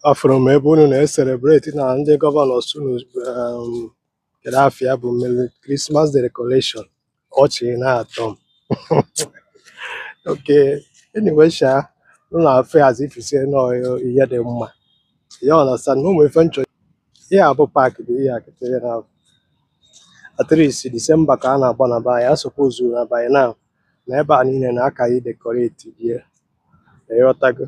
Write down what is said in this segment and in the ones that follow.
afụrụ m ebe unu na-eselebreti na ndị governors unu um, kedu afịa bụ mere Christmas decoration ọchị na-atọ m okay anyway sha unu afụ ya as if say na ọ ihe dị mma you understand na ụmụ ife nchọ ihe a bụ park bụ ihe akịta ihe na at least December ka a na-agba na be anyị ọ suppose na by now na ebe a niile na a ka idekoreti die ịghọtago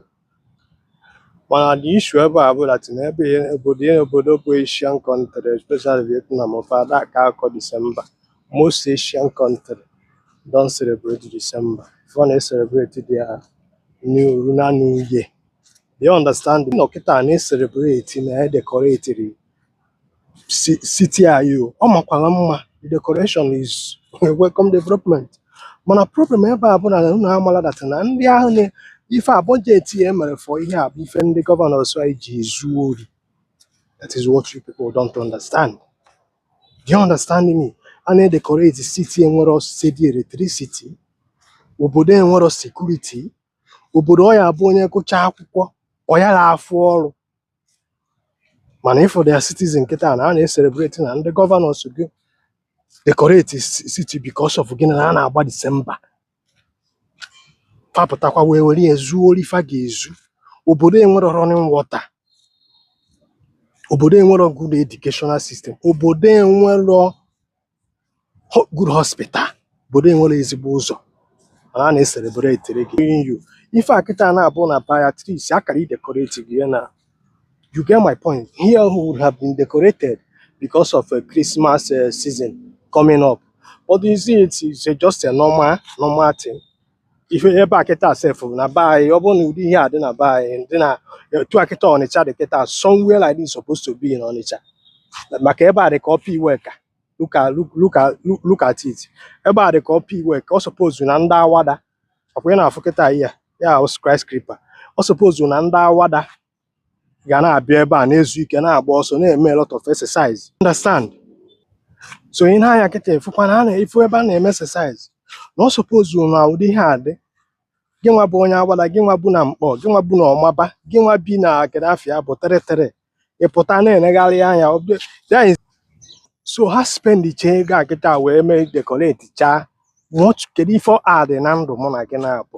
mana the issue ebe a bụ that na ebe ihe obodo ihe obodo bụ Asian country especially Vietnam fa ada ka akọ December most Asian country don't celebrate December fa na celebrate their new lunar new year you understand nọ kịta na celebrate na e decoratiri si- city anyị o ọ makwara mma the decoration is a welcome development mana problem ebe a bụ na unu amala that na ndị ahụ na ife a budget e mere for ihe a bụ ife ndị governors anyị ji ezu ori that is what you people don't understand do you understand me a na-edekoreti city enwero steady electricity obodo enwero security obodo ọ ya bụ onye gụcha akwụkwọ ọ ya na-afụ ọrụ mana ịfụ their citizen kịta na a na-eselebreti na ndị governors gị dekoreti city because of gịnị na a na-agba December fa pụtakwa wee were ya zuo ori fa ga-ezu obodo enwero running water obodo enwero good educational system obodo enwero good hospital obodo enwero ezigbo ụzọ mana a na-eselebretiri gị you ife a kịta na-abụ na be anyị at least akara i decoratego ya na you get my point here would have been decorated because of a Christmas uh, season coming up but you see it is just a normal normal thing ife ebe a kịta sef na be anyị ọ bụrụ na ụdị ihe a dị na be anyị dị na etu a kịta Ọnịcha dị kịta somewhere like this supposed to be in Ọnịcha maka ebe a dị ka Upper Iweka look at look look at look look at it ebe a dị ka Upper Iweka ọ suppose na ndị Awada ọkwa ị na-afụ kịta ihe ya ahụ skyscraper ọ suppose na ndị Awada ga na-abịa ebe a na-ezu ike na-agba ọsọ na-eme a lot of exercise understand so ị na-anya kịta efukwa na a na-efu ebe a na-eme exercise na ọ suppose na ụdị ihe a dị gị nwa bụ onye Awada gị nwa bu na Nkpor gị nwa bu na Omagba gị nwa bi na kedu afịa bụ Three Three ịpụta na-enegharị anya ọ bụ- then so ha spend chaa ego a kịta wee mee decorate chaa what kedu ife ọ add na ndụ mụ na gị naabọ